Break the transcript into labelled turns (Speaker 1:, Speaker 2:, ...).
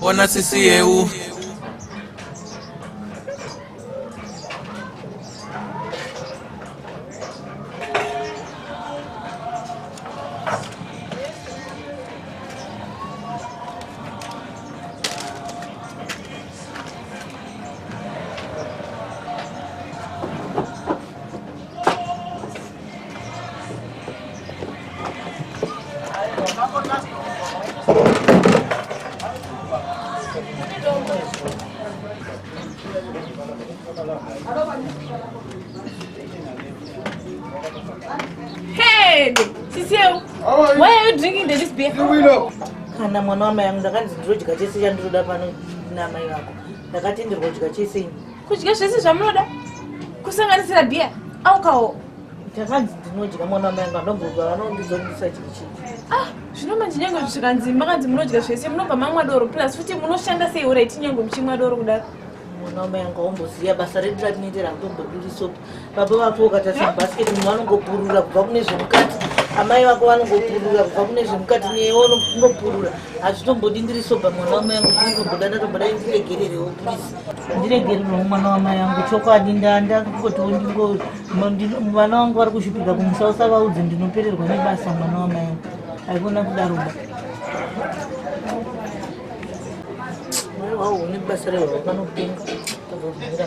Speaker 1: Bona sisi yeu.
Speaker 2: Hey, Cecile, why are you drinking this beer? You will know. kana
Speaker 3: mwana wamai yangu ndakanzi ndirodya chese chandiroda pano namai vako ndakatenderwa kudya chese ini kudya zvese
Speaker 2: zvamunoda kusanganisira bhiya aukawo ndakanzi
Speaker 3: ndinodya mwana wamai angu anobhuka vanondizodisa chii chii ah zvino manje
Speaker 2: nyange zvikanzi makanzi munodya zvese munobva mamwa doro plus futi munoshanda sei uraiti nyange muchimwa doro kudaro mwana wamai angu
Speaker 3: aumboziva basa redu ratinoitera kutombodirisopi baba vako ukatarisa basket munhu vanongopurura kubva kune zvemukati amai vako vanongopurura kubva kune zvemukati neyewo unopurura hazvitombodi ndiri soba mwana wamai yangu ndiritomboda ndatomboda indiregererewo please ndiregererewo mwana wamai yangu chokwadi ndandakutotiwo ndingo vana vangu vari kuzvipika kumusa usavaudze ndinopererwa nebasa mwana wamai yangu haikona kudaro ba waone basa rehwavo vanopenga tozozvira